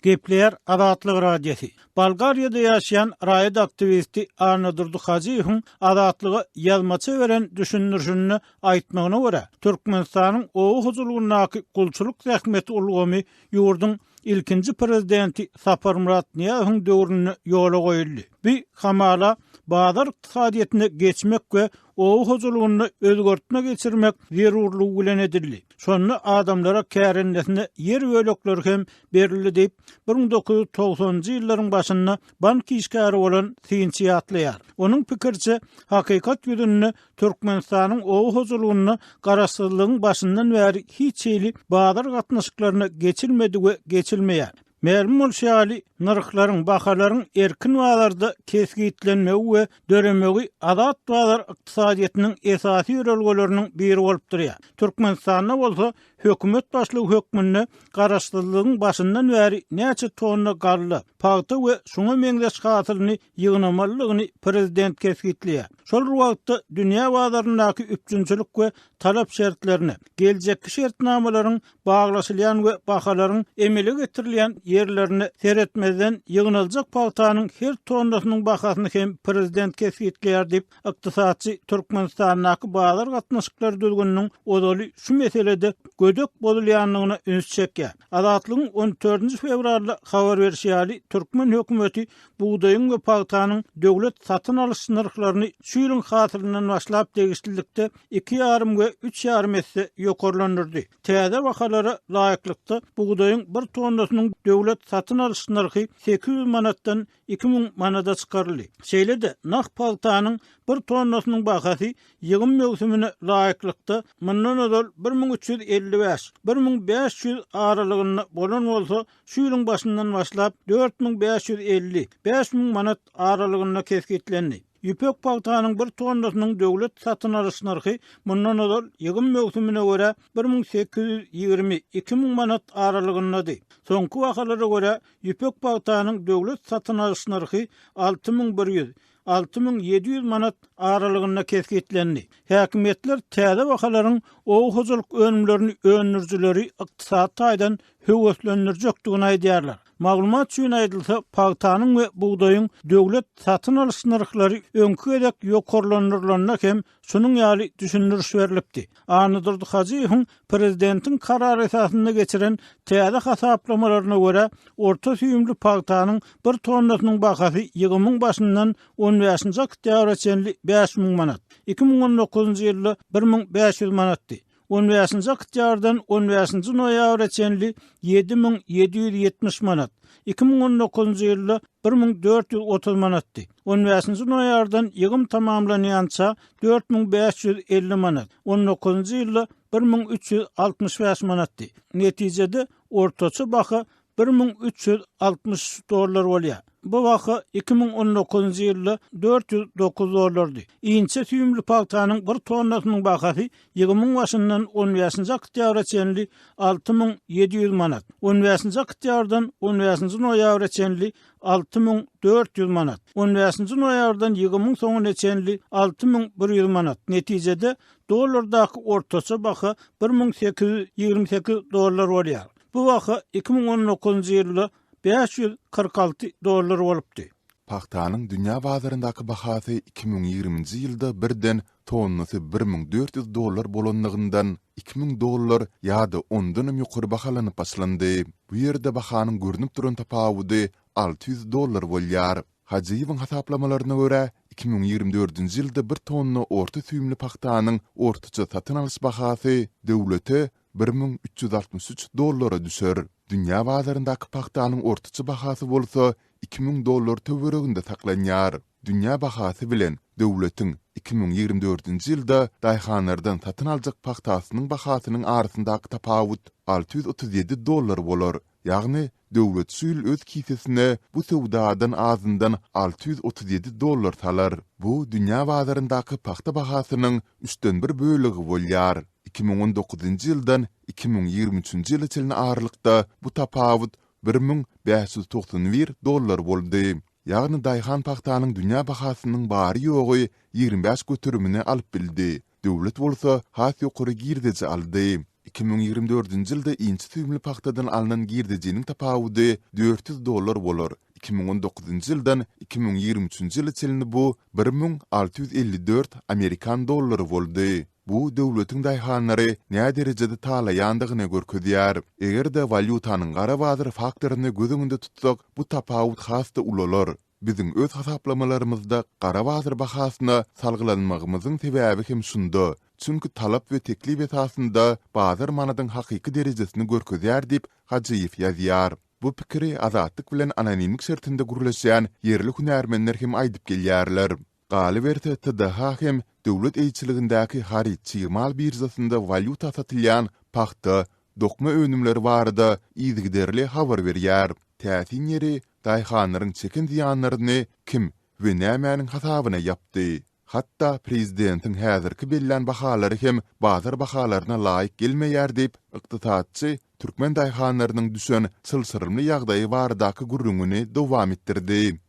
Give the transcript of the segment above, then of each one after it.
Gepleýär Azatlyk Radiosy. Bolgariýada ýaşaýan raýat aktiwisti Annadurdy Hajyýewiň Azatlyga ýazmaça beren düşündirişinde aýtmagyna görä, Türkmenistanyň oba hojalygyndaky gulçulyk zähmeti ulgamy ýurduň ilkinji prezidenti Saparmyrat Nyýazowyň döwründe ýola goýuldy. Bu hamala bazar ykdysadyýetine geçmek we oba hojalygynda özgertme geçirmek zerurlygy bilen edildi. Şonda adamlara kärendesine ýer bölekleri hem berildi diýip, bir müň dokuz ýüz togsanynjy ýyllaryň başynda bank işgäri bolan synçy ýatlaýar. Onuň pikiriçe, hakykat ýüzünde Türkmenistanyň oba hojalygynda Garaşsyzlygyň başyndan bäri hiç hili bazar gatnaşyklaryna geçilmedi we geçilmeýär. Mälim bolşy ýaly, nyrhlaryň, bahalaryň erkin bazarda kesgitlenmegi we döremegi azat bazar ykdysadyýetiniň esasy ýörelgeleriniň biri bolup durýar. Türkmenistanda bolsa hökümet başlygy hökmünde Garaşsyzlygyň başyndan bäri näçe tonna galla, pagta we şuňa meňzeş hasylyny ýygnamalydygyny prezident kesgitleýär. Şol bir wagtda, dünýä bazaryndaky üpjünçilik we talap şertlerine, geljekki şertnamalaryň baglaşylýan we bahalaryň emele getirilýän ýerlerine seretmezden, ýygnaljak pagtanyň her tonnasynyň bahasyny hem prezident kesgitleýär diýip, ykdysatçy Türkmenistandaky bazar gatnaşyklary düzgüniniň ozaly şu meselede gödek bozulýandygyna üns çekýär. Azatlygyň on dördünji fewralda habar berşi ýaly, türkmen hökümeti bugdaýyň we pagtanyň döwlet satyn alyş nyrhlaryny şu ýylyň hasylyndan başlap degişlilikde iki ýarym we üç ýarym esse ýokarlandyrdy. Täze bahalara laýyklykda, bugdaýyň bir tonnasynyň döwlet satyn alyş nyrhy sekiz ýüz manatdan iki müň manada çykaryldy. Şeýle-de, nah pagtanyň bir tonnasynyň bahasy ýygym möwsümine laýyklykda, mundan ozal bir müň üç ýüz elli bäş, bir müň bäş ýüz aralygynda bolan bolsa, şu ýylyň başyndan başlap dört müň bäş ýüz elli, bäş müň manat aralygynda kesgitlendi. Ýüpek pagtanyň bir tonnasynyň döwlet satyn alyş nyrhy mundan ozal ýygym möwsümine görä bir müň sekiz ýüz ýigrimi, iki müň manat aralygyndady. Soňky bahalara görä, ýüpek pagtanyň döwlet satyn alyş nyrhy alty müň bir ýüz, alty müň ýedi ýüz manat aralygynda kesgitlendi. Häkimiýetler täze bahalaryň oba hojalyk önümlerini öndürijileri ykdysady taýdan höweslendirjekdigini aýdýarlar. Maglumat üçin aýdylsa, pagtanyň we bugdaýyň döwlet satyn alyş nyrhlary öňki gezek ýokarlandyrylanda hem Şunuň ýaly düşündiriş berlipdi. Annadurdy Hajyýewiň prezidentiň karary esasynda geçiren täze hasaplamalaryna görä, orta süýümli pagtanyň bir tonnasynyň bahasy ýygymyň başyndan on bäşinji oktýabra çenli bäş müň manat, iki müň on dokuzynjy ýylda bir müň bäş ýüz manatdy. On bäşinji oktýabrdan on bäşinji noýabra çenli ýedi müň ýedi ýüz ýetmiş manat, iki müň on dokuzynjy ýylda bir müň dört ýüz otuz manatdy. On bäşinji noýabrdan ýygym tamamlanýança dört müň bäş ýüz elli manat, on dokuzynjy ýylda bir müň üç ýüz altmyş bäş manatdy. Netijede, ortaça baha bir müň üç ýüz altmyş üç dollar bolýar. Bu baha iki müň on dokuzynjy ýylda dört ýüz dokuz dollardy. Inçe süýümli pagtanyň bir tonnasynyň bahasy ýygymuň başyndan on bäşinji oktýabra çenli alty müň ýedi ýüz manat, on bäşinji oktýabrdan on bäşinji noýabra çenli alty müň dört ýüz manat, on bäşinji noýabrdan ýygymuň soňuna çenli alty müň bir ýüz manat, netijede, dollardaky ortaça baha bir müň sekiz ýüz ýigrimi sekiz dollar bolýar. Bu baha iki müň on dokuzynjy ýylda bäş ýüz kyrk alty dollar bolupdy. Pagtanyň dünýä bazaryndaky bahasy iki müň ýigriminji ýylda birden tonnasy bir müň dört ýüz dollar bolandygyndan iki müň dollar ýa-da ondanam ýokary bahalanyp başlandy. Bu ýerde bahanyň görnüp duran tapawudy alty ýüz dollar bolýar. Hajyýewiň hasaplamalaryna görä, iki müň ýigrimi dördünji ýylda bir tonna orta süýümli pagtanyň ortaça satyn alyş bahasy döwlete bir müň üç ýüz altmyş üç dollara düşer. Dünýä bazaryndaky pagtanyň ortaça bahasy bolsa iki müň dollar töwereginde saklanýar. Dünýä bahasy bilen döwletiň iki müň ýigrimi dördünji ýylda daýhanlardan satyn aljak pagtasynyň bahasynyň arasyndaky tapawut alty ýüz otuz ýedi dollar bolar, ýagny Döwlet şu ýyl öz kisesine bu söwdadan azyndan alty ýüz otuz ýedi dollar salar. Bu dünýä bazaryndaky pagta bahasynyň üçden bir bölegi bolýar. Iki müň on dokuzynjy ýyldan iki müň ýigrimi üçünji ýyla çenli aralykda bu tapawut bir müň bäş ýüz togsan bir dollar boldy. Ýagny daýhan pagtanyň dünýä bahasynyň bary-ýogy ýigrimi bäş göterimini alyp bildi. Döwlet bolsa has ýokary girdeji aldy. Iki müň ýigrimi dördünji ýylda inçe süýümli pagtadan alnan girdejiniň tapawudy dört ýüz dollar bolar, iki müň on dokuzynjy ýyldan iki müň ýigrimi üçünji ýyla çenli bu bir müň alty ýüz elli dört amerikan dollary boldy. Bu döwletiň daýhanlary näderejede talaýandygyny görkezýär. Eger-de walýutanyň gara bazar faktoryny göz öňünde tutsak, bu tapawut has-da ulalar. Biziň öz hasaplamalarymyzda gara bazar bahasyna salgylanmagymyzyň sebäbi hem şunda. Çünki talap we teklip esasynda bazar manadyň hakyky derejesini görkezýär diýip, Hajyýew ýazýar. Bu pikiri Azatlyk bilen anonimlik şertinde gürleşýän ýerli hünärmenler hem aýdyp gelýärler. Galyberse, TDH hem döwlet eýeçiligindäki haryt-çig mal biržasynda walýuta satylýan pagta, dokma önümleri barada yzygiderli habar berýär. Täsin ýeri, daýhanlaryň çeken zyýanlaryny kim we nämäniň hasabyna ýapdy? Hatda prezidentiň häzirki bellän bahalary hem bazar bahalaryna laýyk gelmeýär diýip, ykdysatçy türkmen daýhanlarynyň düşen çylşyrymly ýagdaýy baradaky gürrüňini dowam etdirdi.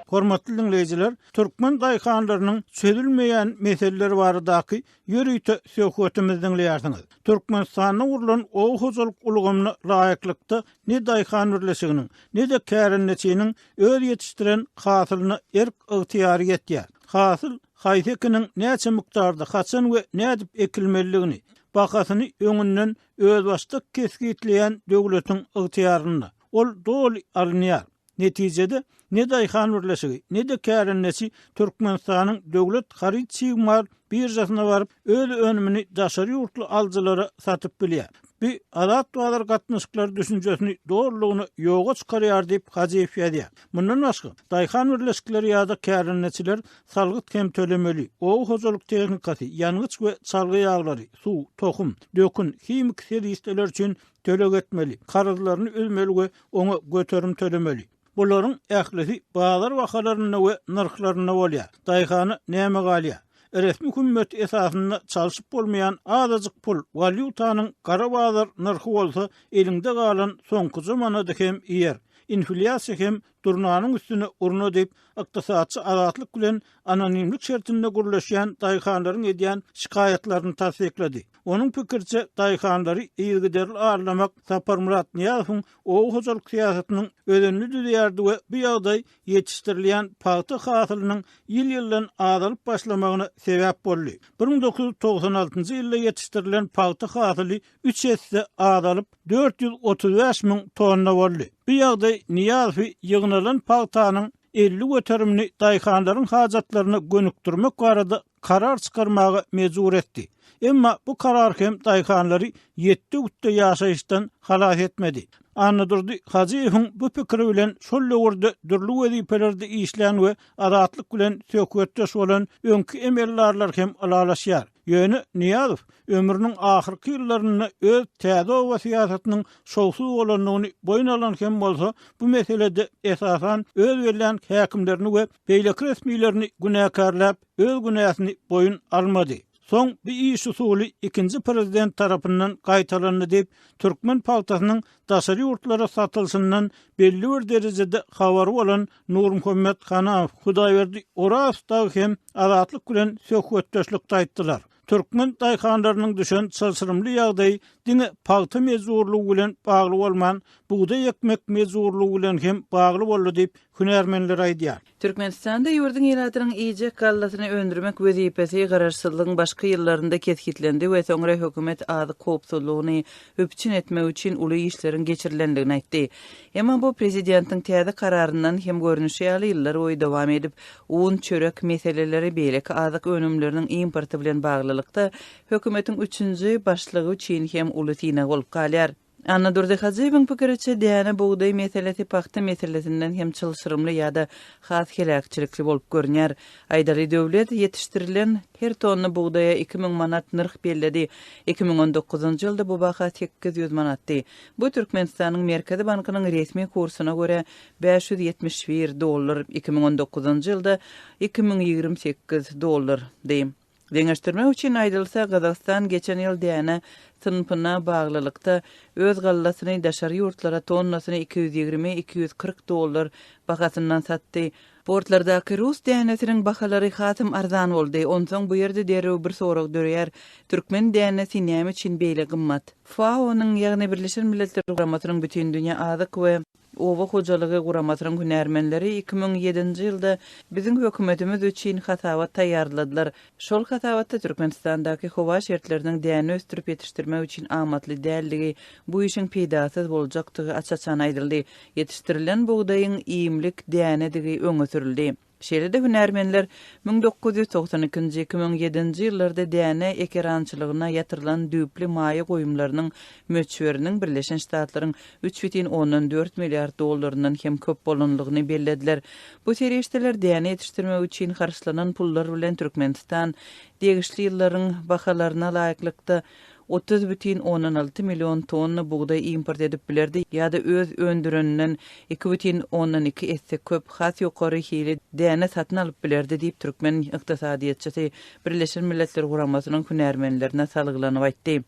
Hormatly diňleýjiler, türkmen daýhanlarynyň çözülmeýän meseleleri baradaky ýörite söhbetimizi diňleýärsiňiz. Türkmenistanda gurlan oba hojalyk ulgamyna laýyklykda ne daýhan birleşiginiň, ne-de kärendeçiniň öz ýetişdiren hasylyna erk-ygtyýary ýetýär. Hasyl Haýsy ekiniň näçe mukdarda, haçan we nädip ekilmelidigini, bahasyny öňünden özbaşdak kesgitleýän döwletiň ygtyýarynda. Ol doly alynýar. Netijede, ne daýhan birleşigi, ne-de kärendeçi Türkmenistanyň Döwlet haryt-çig-mal biržasyna baryp, öz önümini daşary ýurtly alyjylara satyp bilýär. Bu azat bazar gatnaşyklary düşünjesini dolulygyna ýoga çykarýar diýip, Hajyýew ýazýar. Mundan başga, daýhan birleşikleri ýa-da kärendeçiler salgyt hem tölemeli, oba hojalyk tehnikasy, ýangyç we çalgy ýaglary, suw, tohum, dökün, himiki serişdeler üçin töleg etmeli, karzlaryny üzmeli we oňa göterim tölemeli. Bularyň ählisi bazar bahalarynda we nyrhlarynda bolýar. Daýhana näme galýar? Resmi hümmet esasynda çalşyp bolmaýan azajyk pul, walýutanyň gara bazar nyrhy bolsa eliňde galan soňkuja manady hem iýer. Inflýasiýa hem Durnanyň üstüne urna diýip, ykdysatçy Azatlyk bilen anonimlik şertinde gürleşýän daýhanlaryň edýän şikaýatlaryny tassyklady. Onuň pikiriçe, daýhanlary yzygiderli arlamak Saparmyrat Nyýazowyň oba hojalyk syýasatynyň özenini düzýärdi we bu ýagdaý ýetişdirilýän pagta hasylynyň ýyl-ýyldan azalyp başlamagyna sebäp boldy. Bir müň dokuz ýüz togsan altynjy ýylda ýetişdirilen pagta hasyly üç esse azalyp, dört ýüz otuz bäş müň tonna boldy. Bu ýagdaý Nyýazowy ýygnalan pagtanyň elli göterimini daýhanlaryň hajatlaryna gönükdirmek barada karar çykarmaga mejbur etdi. Emma bu karar hem daýhanlary ýetde-gütde ýaşaýyşdan halas etmedi. Annadurdy Hajyýewiň bu pikiri bilen şol döwürde dürli wezipelerde işlän we Azatlyk bilen söhbetdeş bolan öňki emeldarlar hem ylalaşýar. Ýöne Nyýazow ömrüniň ahyrky ýyllarynda öz täze oba syýasatynyň şowsuz bolandygyny boýun alan hem bolsa, bu meselede esasan öz bellän häkimlerini we beýleki resmilerini günäkärläp, öz günäsini boýun almady. Soň bu iş usuly ikinji prezident tarapyndan gaýtalandy diýip, türkmen pagtasynyň daşary ýurtlara satylşyndan belli bir derejede habary bolan Nurmuhammet Hanaw, Hudaýberdi Oraz dagy hem Azatlyk bilen söhbetdeşlikde aýtdylar. Türkmen daýhanlarynyň düşen çylşyrymly ýagdaýy diňe pagta mejburlygy bilen bagly bolman, bugdaý ekmek mejburlygy bilen hem bagly boldy diýip, hünärmenler aýdýar. Türkmenistanda ýurduň ilatynyň iýjek gallasyny öndürmek wezipesi Garaşsyzlygyň başky ýyllarynda kesgitlendi we soňra hökümet azyk howpsuzlygyny üpjün etmek üçin uly işleriň geçirilendigini aýtdy. Emma bu prezidentiň täze kararyndan hem görnüşi ýaly ýyllar boýy dowam edip, un, çörek meseleleri, beýleki azyk önümleriniň importy bilen baglylykda, hökümetiň üçünji başlygy üçin hem uly synag bolup galýar. Annadurdy Hajyýewiň pikiriçe, däne, bugdaý meselesi pagta meselesinden hem çylşyrymly ýa-da has heläkçilikli bolup görünýär. Aýdaly, döwlet ýetişdirilen her tonna bugdaýa iki müň manat nyrh belledi. Iki müň on dokuzynjy ýylda bu baha sekiz ýüz manatdy. Bu Türkmenistanyň Merkezi bankynyň resmi kursyna görä, bäş ýüz ýetmiş bir dollar, iki müň on dokuzynjy ýylda iki müň ýigrimi sekiz dollardy. Deňeşdirmek üçin aýdylsa, Gazagystan geçen ýyl däne synpyna baglylykda, öz gallasyny daşary ýurtlara tonnasyny iki ýüz ýigrimi-iki ýüz kyrk dollar bahasyndan satdy. Portlardaky rus dänesiniň bahalary hasam arzan boldy. Onsoň bu ýerde derrew bir sorag döreýär, türkmen dänesi näme üçin beýle gymmat? FAO-nyň, ýagny Birleşen Milletler Guramasynyň Bütindünýä azyk we Oba hojalygy guramasynyň hünärmenleri iki müň ýedinji ýylda biziň hökümetimiz üçin hasabat taýýarladylar. Şol hasabatda Türkmenistandaky howa şertleriniň däne ösdürip ýetişdirmek üçin amatly däldigi, bu işiň peýdasyz boljakdygy aç-açan aýdyldy. Ýetişdirilen bugdaýyň iýmlik dänedigi öňe sürüldi. Şeýle-de hünärmenler müň dokuz ýüz togsan ikinji, iki müň ýedinji ýyllarda däne ekerançylygyna ýatyrylan düýpli maýa goýumlarynyň möçberiniň Birleşen Ştatlaryň üç bütin ondan dört milliard dollaryndan hem köp bolanlygyny bellediler. Bu serişdeler däne ýetişdirmek üçin harçlanan pullar bilen Türkmenistan degişli ýyllaryň bahalaryna laýyklykda, otuz bütin ondan alty million tonna bugdaý import edip bilerdi ýa-da öz öndüreninden iki bütin ondan iki esse köp, has ýokary hili däne satyn alyp bilerdi diýip, türkmen ykdysadyýetçisi Birleşen Milletler Guramasynyň hünärmenlerine salgylanyp aýtdy.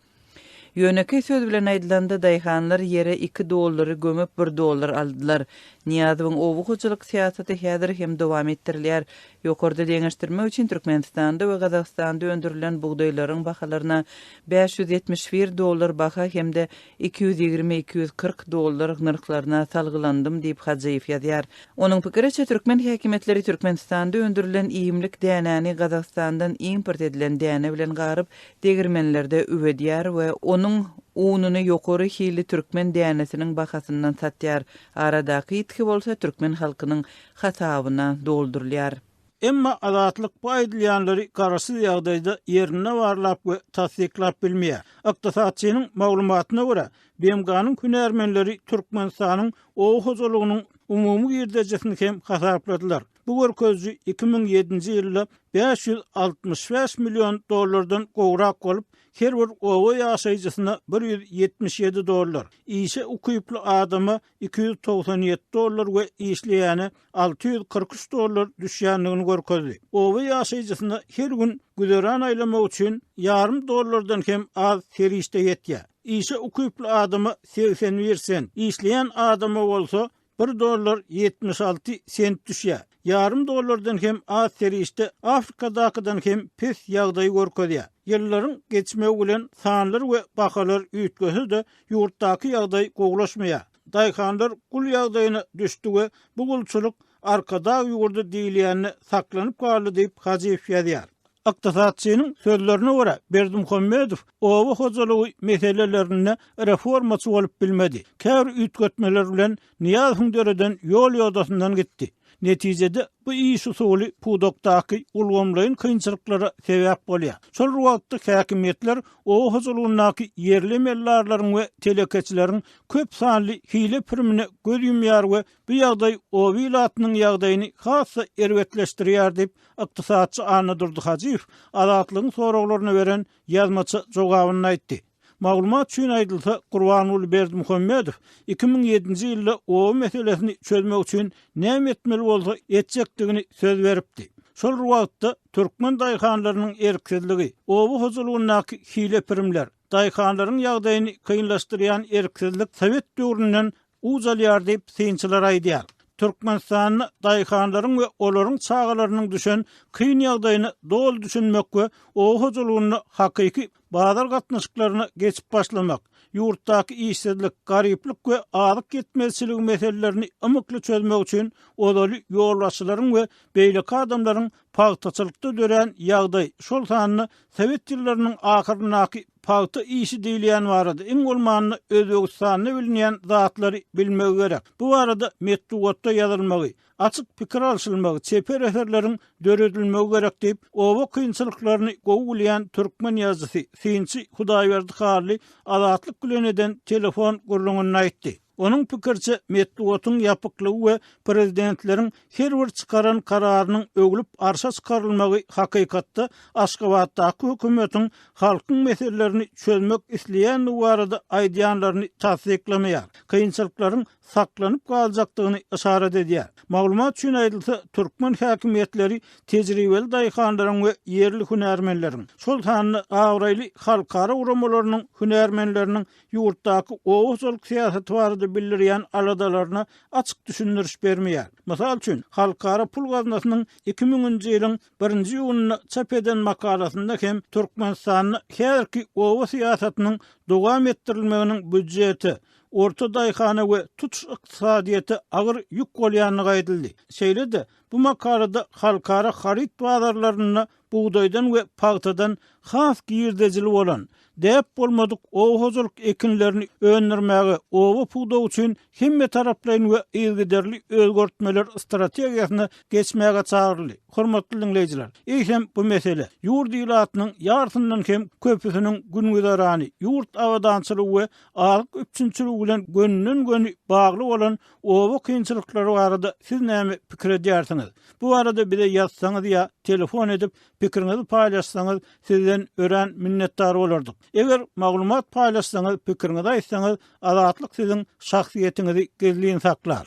Ýönekeý söz bilen aýdylanda, daýhanlar ýere iki dollary gömüp, bir dollar aldylar. Nyýazowyň oba hojalyk syýasaty häzir hem dowam etdirilýär, Ýokarda deňeşdirmek üçin Türkmenistanda we Gazagystanda öndürilen bugdaýlaryň bahalaryna bäş ýüz ýetmiş bir dollar baha hem-de iki ýüz ýigrimi, iki ýüz kyrk dollar nyrhlaryna salgylandym diýip Hajyýew ýazýar. Onuň pikiriçe, türkmen häkimiýetleri Türkmenistanda öndürilen iýmlik dänäni Gazagystandan import edilen däne bilen garyp, degirmenlerde üwedýär we onuň ununy ýokary hilli türkmen dänesiniň bahasyndan satýar, aradaky ýitgi bolsa türkmen halkynyň hasabyna doldurylýar. Emma Azatlyk bu aýdylýanlary garaşsyz ýagdaýda ýerinde barlap we tassyklap bilmeýär. Ykdysatçynyň maglumatyna görä, BMG-niň hünärmenleri Türkmenistanyň oba hojalygynyň umumy girdejisini hem hasapladylar. Bu görkeziji iki müň ýedinji ýylda bäş ýüz altmyş bäş million dollardan gowrak bolup, her bir oba ýaşaýjysyna bir ýüz ýetmiş ýedi dollar, işe ukyply adama iki ýüz togsan ýedi dollar we işleýäne alty ýüz kyrk üç dollar düşýändigini görkezdi. Oba ýaşaýjysyna her gün güzeran aýlamak üçin ýarym dollardan hem az serişde ýetýär. Işe ukyply adama segsen bir sent, işleýän adama bolsa bir dollar ýetmiş alty sent düşýär. Ýarym dollardan hem az serişde Afrikadakydan hem pes ýagdaýy görkezýär. Ýyllaryň geçmegi bilen sanlar we bahalar üýtgese-de, ýurtdaky ýagdaý gowulaşmaýar. Daýhanlar gul ýagdaýyna düşdi we bu gulçulyk Arkadag ýurdy diýilýände saklanyp galdy diýip, Hajyýew ýazýar. Ykdysatçynyň sözlerine görä, Berdimuhamedow oba hojalygy meselelerinde reformaçy bolup bilmedi. Käbir üýtgetmeler bilen Nyýazowyň döreden ýol-ýodasyndan gitdi. Netijede, bu iş usuly pudakdaky ulgamlaýyn kynçylyklara sebäp bolýar. Şol wagtda häkimiýetler oba hojalygyndaky ýerli emeldarlaryň we telekeçileriň köp sanly hile-pirimine göz ýumýar we bu ýagdaý oba ilatynyň ýagdaýyny has-da erbetleşdirýär diýip, ykdysatçy Annadurdy Hajyýew Azatlygyň soraglaryna beren ýazmaça jogabynda aýtdy. Maglumat üçin aýdylsa, Gurbanguly Berdimuhamedow iki müň ýedinji ýylda oba meselesini çözmek üçin näme etmeli bolsa etjekdigini söz beripdi. Şol wagtda türkmen daýhanlarynyň erksizligi, oba hojalygyndaky hile-pirimler, daýhanlaryň ýagdaýyny kynlaşdyrýan erksizlik sowet döwründen ucalýar diýip, synçylar aýdýar. Türkmenistanda daýhanlaryň we olaryň çagalarynyň düşen kyn ýagdaýyna doly düşünmek we oba hojalygynda hakyky bazar gatnaşyklaryna geçip başlamak, ýurtdaky işsizlik, garyplyk we azyk ýetmezçiligi meselelerini ymykly çözmek üçin ozaly ýolbaşçylaryň we beýleki adamlaryň pagtaçylykda dörän ýagdaý, şol sanda sowet ýyllarynyň ahyryndaky Pagta işi diýilýän barada iň bolmanda Özbegistanda bilinýän zatlary bilmegi gerek. Bu barada metbugatda ýazylmagy, açyk pikir alşylmagy, çeper eserleriň döredilmegi gerek diýip, oba kynçylyklaryny gowy bilýän türkmen ýazyjysy, synçy Hudaýberdi Hally Azatlyk bilen eden telefon gürrüňinde aýtdy. Onuň pikiriçe, metbugatyň ýapyklygy we prezidentleriň her bir çykaran kararynyň öwlüp arşa çykarylmagy hakykatda Aşgabatdaky hökümetiň halkyň meselelerini çözmek isleýändigi barada aýdýanlaryny tassyklamaýar, kynçylyklaryň saklanyp galjakdygyny yşarat edýär. Maglumat üçin aýdylsa, türkmen häkimiýetleri tejribeli daýhanlaryň we ýerli hünärmenleriň, şol sanda abraýly halkara guramalarynyň hünärmenleriniň ýurtdaky oba hojalyk syýasaty barada bildirýän aladalaryna açyk düşündiriş bermeýär. Mysal üçin, Halkara pul gaznasynyň iki müňünji ýylyň birinji iýunynda çap eden makalasynda hem Türkmenistanda häzirki oba syýasatynyň dowam etdirilmeginiň býudjete, orta daýhana we tutuş ykdysadyýete agyr ýük bolýandygy aýdyldy. Şeýle-de, bu makalada halkara haryt bazarlarynda bugdaýdan we pagtadan has girdejili bolan, däp bolmadyk oba hojalyk ekinlerini öndürmäge, oba pudagy üçin hemmetaraplaýyn we yzygiderli özgertmeler strategiýasyna geçmäge çagyryldy. Hormatly diňleýjiler, eýsem bu mesele ýurt ilatynyň ýarsyndan hem köpüsiniň gün-güzerany, ýurt abadançylygy we azyk üpjünçiligi bilen gönüden-göni bagly bolan Oba kynçylyklary barada siz näme pikir edýärsiňiz? Bu barada bize ýazsaňyz ýa telefon edip pikiriňizi paýlaşsaňyz sizden örän minnetdar bolardyk. Eger maglumat paýlaşsaňyz pikiriňizi aýtsaňyz Azatlyk siziň şahsyýetiňizi gizlin saklar.